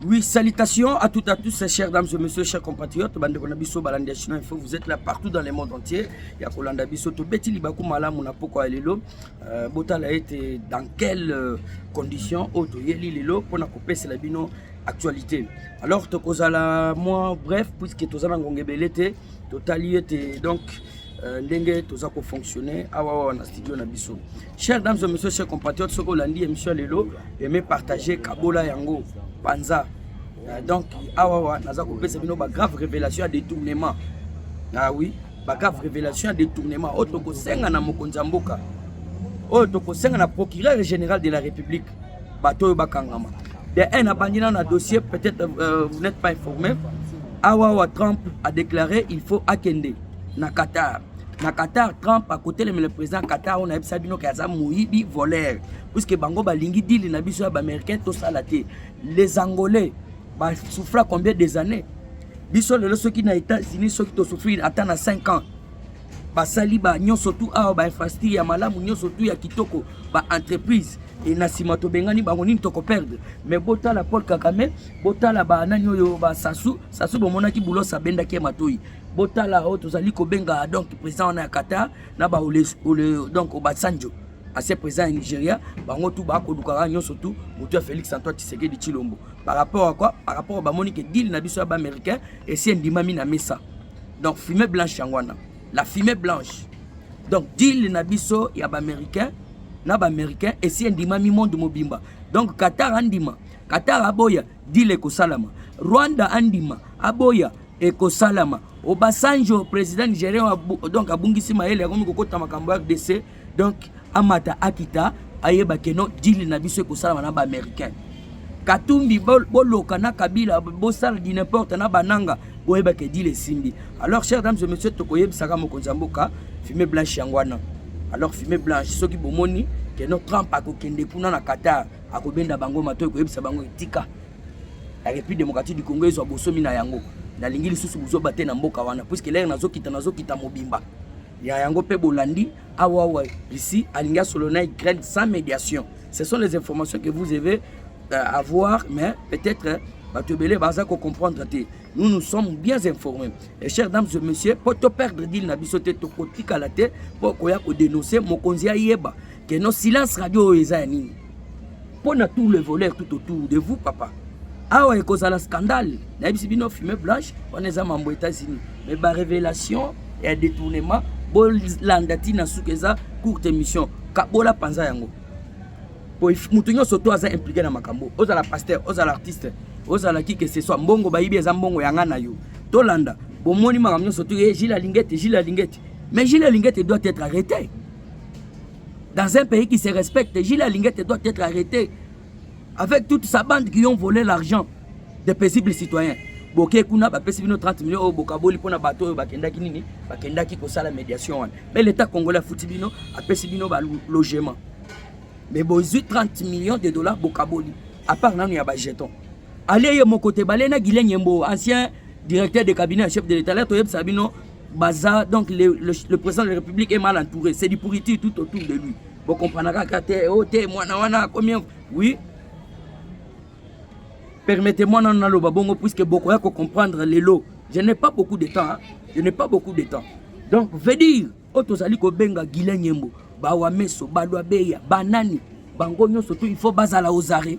Oui, salutations à toutes et à tous, chers dames et messieurs, chers compatriotes, bande de biso balandi chinois info, vous êtes là partout dans le monde entier. Ya kolanda biso to beti libaku malamu na poko ya lelo. Euh, botala ete dans quelles euh, conditions auto yeli lelo pona ko pesa la bino actualité. Alors to kozala moi bref puisque to zana ngongebele te, to tali ete donc euh, ndenge to za ko fonctionner awa ah, wa na studio na biso. Chers dames et messieurs, chers compatriotes, soki olandi émission lelo, aimez partager kabola yango panza. Euh, donc awa wa naza kopesa bino ba grave révélation ya détournement. Ah oui, ba grave révélation ya détournement oyo tokosenga na mokonzi ya mboka. Oyo tokosenga na procureur général de la République. Bato oyo bakangama. De un abandi na dossier, peut-être euh, vous n'êtes pas informé. Awa wa Trump a déclaré il faut akende. na Qatar na Qatar Trump akotelemela président Qatar oyo nayebisa bino ke aza moyibi voleur puisque bango balingi dili na biso ya baaméricain tosala te les angolais basouffra combien des années biso lelo soki na états-unis soki tosouffrir ata na 5 ans basali ba nyonso tu awa bainfrastructure ya malamu nyonso tu ya kitoko baentreprise e na nsima tobengani bango nini tokoperdre mais botala paul kagame botala banani oyo basasu sasu bomonaki bulos abendaki ye matoi botala oyo tozali kobenga donc président wana ya qatar na ba donc obasanjo ancien président ya nigeria bango tu bakolukaka nyonso tu motu ya félix antoine tshisekedi tshilombo par rapport à quoi par rapport bamoni ke deal na biso ya baaméricain esi endimami na mesa donc fumée blanche yango wana la fumée blanche donc deal na biso ya baaméricain na baaméricain esi endimami monde mobimba donc qatar andima qatar aboya deal ekosalama rwanda andima aboya ekosalama obasanjo président nigérien donc abungisi mayele akomi kokota makambo ya rdc donc amata akita ayeba keno dili na biso ekosalama na baaméricain katumbi boloka na kabila bosala di n'importe na bananga boyeba ke dili esimbi alors chers dames et messieurs tokoyebisaka mokonzi ya mboka fume blanche yango wana alors fume blanche soki bomoni keno trump akokende kuna na qatar akobenda bango matoi koyebisa bango etika la République démocratique du Congo ezwa bosomi na yango nalingi lisusu buzoba te na mboka wana puiske lere nazokita nazokita mobimba ya yango mpe bolandi awawa russie alingi asolo na ukraine sans médiation ce sont les informations que vous avez euh, avoir mais peut-être euh, bato ebele baza kocomprendre te nous nous sommes bien informés et chers dames et messieurs mpo toperdre dile na biso te tokotikala te mpo koya kodénonce mokonzi ayeba que no silence radio oyo eza ya nini mpo na tout le voleur tout autour de vous papa awa ekozala scandale nayebisi bino fume blanche wana eza mambo états-unis mais barévélation ya détournement bolanda ntina suka eza courte émission kabola mpanza yango po moto nyonso to aza implike na makambo ozala pasteur ozala artiste ozala ki que ce soit mbongo bayibi eza mbongo yanga na yo tolanda bomoni makambo nyonso to ye eh, jile alingi ete jile alingi ete mais jile alingi ete doit être arrêté Dans un pays qui se respecte, Gilles Alingete doit être arrêté avec toute sa bande qui ont volé l'argent des paisibles citoyens. boke kuna bapesi bino 30 millions oyo bokaboli mpo na bato oyo bakendaki nini bakendaki kosala médiation wana mais l'état congolais afuti bino apesi bino balogement mais bozwi 30 millions de dollars bokaboli apart nanu ya bajeton ale ye moko te bale na guilene yembo ancien directeur de cabinet ya chef de l'état la toyebisa bino baza donc le, le, le président de la république est mal entouré c'est du pourriture tout autour de lui bokomprenaka kaka te o oh, te mwana wana akomi oui permettez-moi nano naloba bongo puisque bokoya kocomprendre lelo je n'ai pas beaucoup de temps hein? je n'ai pas beaucoup de temps donc veut dire oyo tozali kobenga guilain nyembo bawameso balwabeya banani bango nyonso tu il faut bazala ozare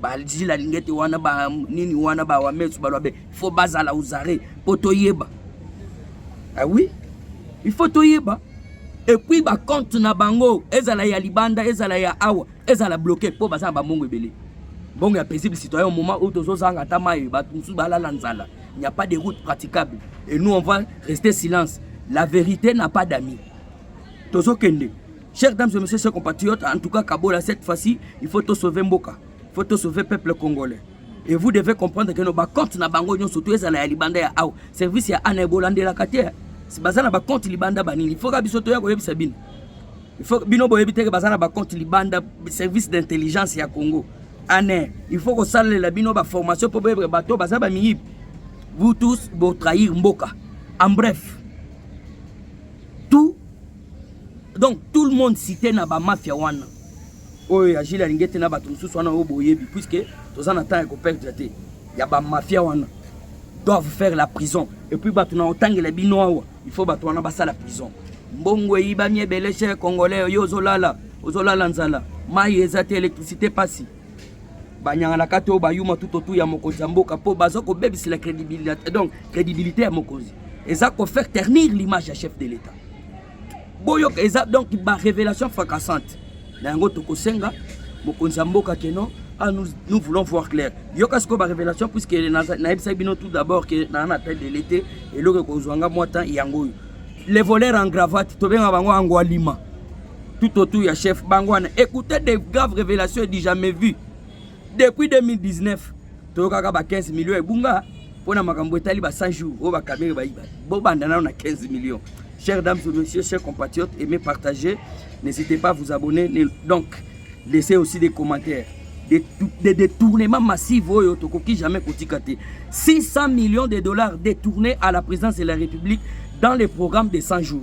bazila lingete wana ba nini wana ba wamesu baloba be faut bazala uzare mpo toyeba ah oui il faut toyeba epuis bacompte na bango ezala ya libanda ezala ya awa ezala bloke mpo baza na bambongo ebele mbongo ya paisible citoyen moment oyo tozozanga ata mai bato mosusu balala nzala il n'y a pas de route praticable et nous on va rester silence la vérité n'a pas d'amis tozokende Chers dames et messieurs, chers compatriotes, en tout cas, Kabola, cette fois-ci, il faut te sauver Mboka. Il faut te sauver peuple congolais. Et vous devez comprendre que nos comptes na bango nyon surtout ezala ya libanda ya au service ya ana ebolande la kate. Si bazana ba compte libanda banini, il faut ka biso to ya ko yebisa bino. Il faut bino boyebi te que bazana ba compte libanda service d'intelligence ya Congo. Ana, il faut ko salela bino ba formation pour boyebre bato baza ba miyibi. Vous tous bo trahir mboka. En bref, donc tout le monde cité na bamafia wana oyo ya jile alingi ete na bato mosusu wana oyo boyebi puiske toza na temps ya koperdre te ya bamafia wana doivent faire la prison epuis bato na otangela bino awa il faut bato wana basala prison mbongo eyibami ebele chez congolais yo ozolala ozolala nzala mai eza te électricité pasi banyanganaka to bayuma tutotu ya mokonzi ya mboka mpo baza kobebisela crédibilité donc crédibilité ya mokonzi eza kofaire ternir l'image ya chef de l'état boyoka eza donc barévélation fracassante na yango tokosenga mokonzi ya mboka keno ah, nous, nous voulons voir clair yoka sikoyo barévélation puiske nayebisaki bino tout d'abord ke naa na tête de l'été eloko ekozwanga mwa temps yango oyo les voleurs en gravate tobenga bango angwalima tout autour ya chef bango wana écoutez des graves révélations du jamais vu depuis 2019 toyokaka ba 15 millions ebunga mpo na makambo etali ba 100 jours oyo bakamere bayiba bobanda nano na 15 millions chers dames et messieurs chers compatriotes aimez partager n'hésitez pas à vous abonner donc laissez aussi des commentaires des, des détournements massifs oyo tokoki jamais kotika te 600 millions de dollars détournés à la présidence de la république dans le programme des 100 jours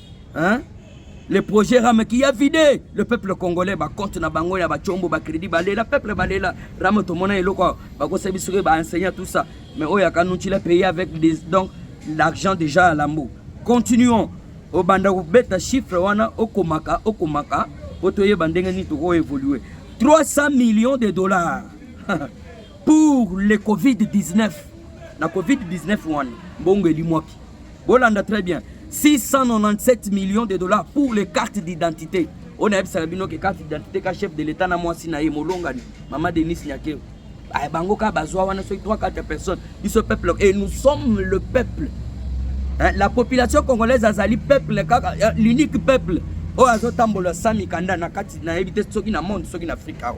hein? le projet rame qui a vidé le peuple congolais bacompte na bango ya bacombo bacrédit balela peuple balela rame tomona eloko bakosabi soki baenseignant tout ça mais oyo akanuncila pays avec des, donc l'argent déjà à lambo continuons obanda kobeta chiffre wana okomaka okomaka po toyeba ndenge nini tokoevolue 300 millions de dollars pour le covid-19 na covid-19 wana mbongo elimwaki bolanda très bien 697 millions de dollars pour les cartes d'identité oyo nayebisaka bino ke carte d'identité ka chef de l'état na mwasi na ye molongani mama denis nyakeo ah, bango kaka bazwa wana soki 3 4 personnes biso peuple et nous sommes le peuple hein, la population congolaise azali peuple kaka euh, l'unique peuple oyo azotambola sa mikanda na kati nayebi te soki na monde soki na afrika awa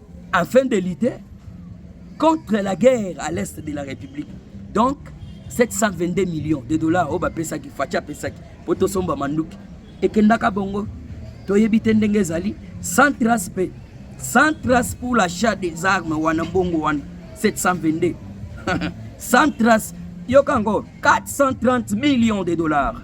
afin de lutter contre la guerre à l'est de la République. Donc, 722 millions de dollars oyo bapesaki faci apesaki mpo tosomba manduki ekendaka bongo toyebi te ndenge ezali sans trace mpe sans trace pour l'achat des armes wana mbongo wana 722 sans trace yoka yango 430 millions de dollars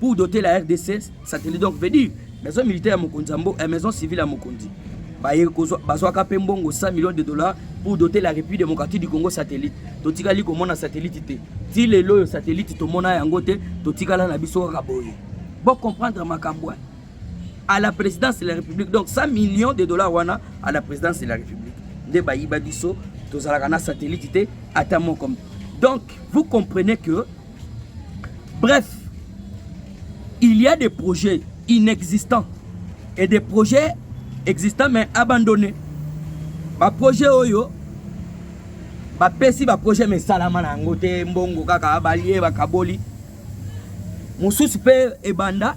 Pour doter la RDC satellite donc veut dire maison militaire ya mokonzi ya mbo, eh, maison civile ya mokonzi baye kozwa bazwaka mpe mbongo 100 millions de dollars pour doter la République démocratique du Congo satellite totikali komona satellite te ti lelo oyo satellite tomona yango te totikala na biso kaka boye bo comprendre makambo wana à la présidence de la République donc 100 millions de dollars wana à la présidence de la République nde bayiba biso tozalaka na satellite te ata moko donc vous comprenez que Bref, il y a des projets inexistants et des projets existants mais abandonnés. Ba projets oyo bapesi ba projets mais salama na yango te mbongo kaka balie bakaboli mosusu mpe ebanda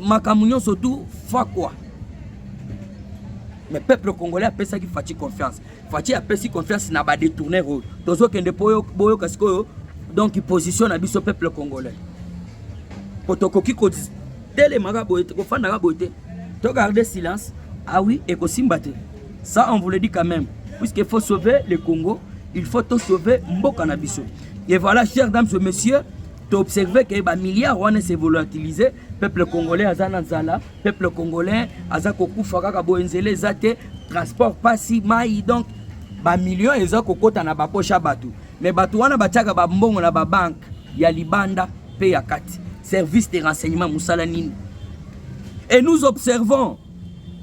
makambo nyonso tu fakwa mais peuple congolais apesaki faci confiance faci apesi confiance na badetourner oyo tozokende mpo boyoka sikoyo donc position na biso peuple congolais mpo tokoki kotelemaka boye te kofandaka boye te to garde silence awi ah ekosimba te ça on vous le dit quand même puisqu'il faut sauver le congo il faut to sauver mboka na biso et voilà chers dames et messieurs To observer que ba milliards wana se volatiliser, peuple congolais aza na nzala, peuple congolais aza kokufa kaka boye nzela eza te, transport pasi, mai donc ba millions eza kokota na bapoche ya bato mais bato wana batiaka bambongo na babanke ya libanda mpe ya kati service de renseignement mosala nini et nous observons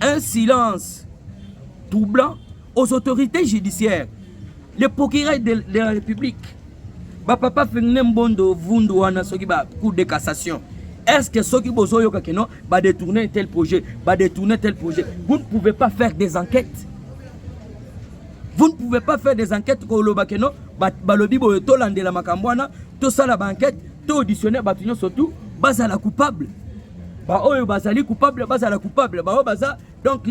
un silence troublant aux autorités judiciaires le procureur de, de la république bapapa fengine mbondo vundu wana soki ba cour de cassation est ce que soki bozoyoka ke non badetourne tel projet badetourne tel projet vous ne pouvez pas faire des enquêtes vous ne pouvez pas faire des enquêtes koloba ke non balobi boye tolandela makambo wana tosala baenquête to auditionne bato nyonso tu bazala coupable baoyo bazali coupable bazala coupable baoyo baza donc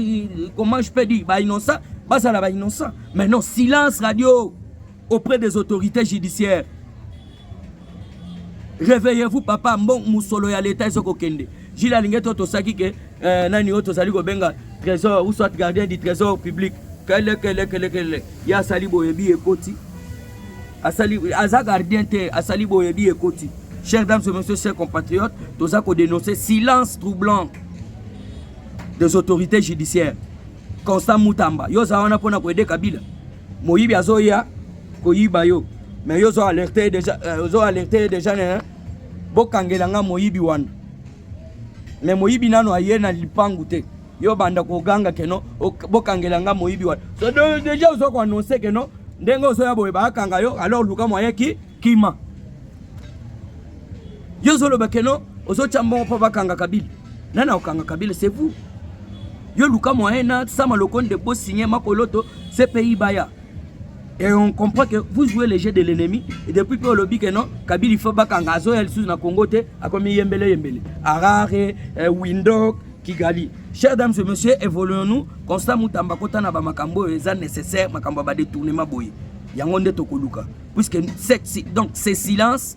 comment je peux dire ba innocent bazala ba innocent mais non silence radio auprès des autorités judiciaires réveillez-vous papa mbo musolo ya leta ezo kokende jile alingi ete otosaki ke euh, nani oyo tozali kobenga trésor ou soit gardien du trésor public kelekelekele ye asali boyebi ekoti asali aza gardien te asali boyebi ekoti chers dames et messieurs chers compatriotes toza kodenonce silence troublant des autorités judiciaires constant mutamba yo oza wana mpona koede kabila moyibi azoya koyiba yo mais yo ozo alerte deja euh, ozo alerte deja ne bokangela nga moyibi wana mais moyibi nano aye na lipangu te yo banda koganga keno bokangela nga moyibi wana so deja ozo koannonce keno ndenge ozoya boye bakanga yo alors luka moye ki kima yo ozoloba keno ozotya mbongo mpo bakanga kabili Nani akokanga Kabila c'est vous. Yo luka moyen na Sama Lokonde bo signer makoloto CPI baya. Et on comprend que vous jouez le jeu de l'ennemi et depuis que olobi que non Kabila il faut bakanga azo ya lisusu na Congo te akomi yembele yembele. Harare, eh, Windhoek, Kigali. Chers dames et messieurs, évoluons-nous. Constant Mutamba kota na ba makambo eza nécessaire makambo ba détournement boye. Yango nde tokoluka puisque donc c'est silence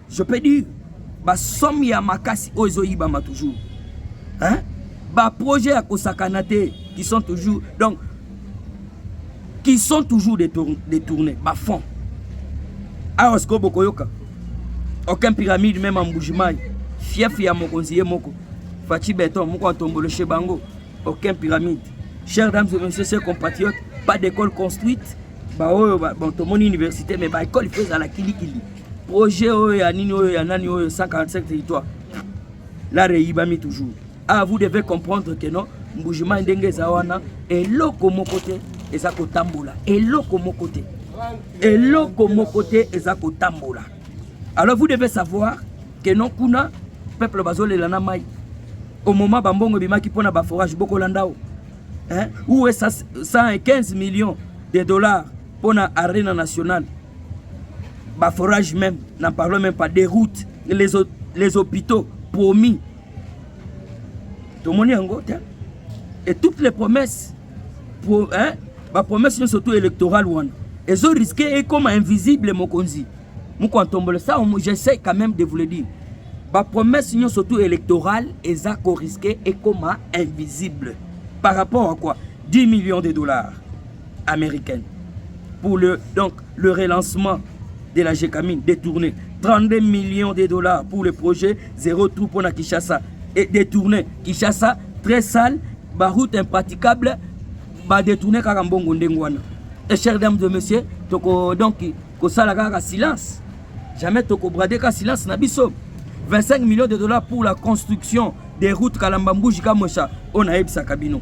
je peux dire ba somme ya makasi oyo ezoyibama toujours hein? ba projet ya kosakana te qui sont toujours donc qui sont toujours détournés ba fonds awa sikoyo bokoyoka aucun pyramide meme en mbujimai fief ya mokonzi ye moko faci beton moko atomboloshe bango aucun pyramide chers dames et messieurs chers compatriotes pas d'école construite baoyo bon tomoni université mais baekole ifo ezala kilikili Projet oyo ya nini oyo ya nani oyo 145 territoire la reyibami toujours. Ah vous devez comprendre que non mbujima ndenge eza wana eloko moko te eza kotambola eloko moko te eloko moko te eza kotambola alors vous devez savoir que non kuna peuple bazolela na mai au moment bambongo ebimaki mpo na baforage bokolanda o hein? ou 115 millions de dollars mpo na arena nationale ba forage même n'en parlons même pas des routes les, les hôpitaux promis tomoni yango te et toutes les promesses pour hein, ba promesses nyonso tout électorale wana ezo risque ekoma invisible mokonzi moko antombolo ça j'essaie quand même de vous le dire ba promesses nyonso tout électorale eza ko risque ekoma invisible par rapport à quoi 10 millions de dollars Americaine pour le, donc, le relancement de la Gécamine détourné 32 millions de dollars pour le projet Zéro Trou pour la Kishasa et détourné Kishasa très sale, ba route impraticable, ba détourné Karambongo Ndengwana. Et chers dames de messieurs, toko donc kosala kaka silence. Jamais toko brader ka silence na biso. 25 millions de dollars pour la construction des routes Kalambambouji Kamosha, on a ebisa kabino.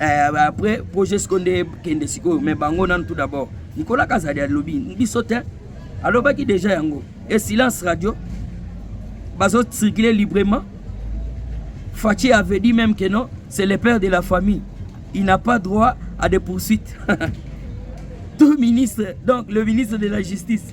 Eh, après projet siko nde ekende sikoyo mais bango nanu tout d'abord nikola kazali alobi biso te alobaki déjà yango e silence radio bazo circuler librement Fatih avait dit même que non c'est le père de la famille il n'a pas droit à des poursuites tout ministre donc le ministre de la justice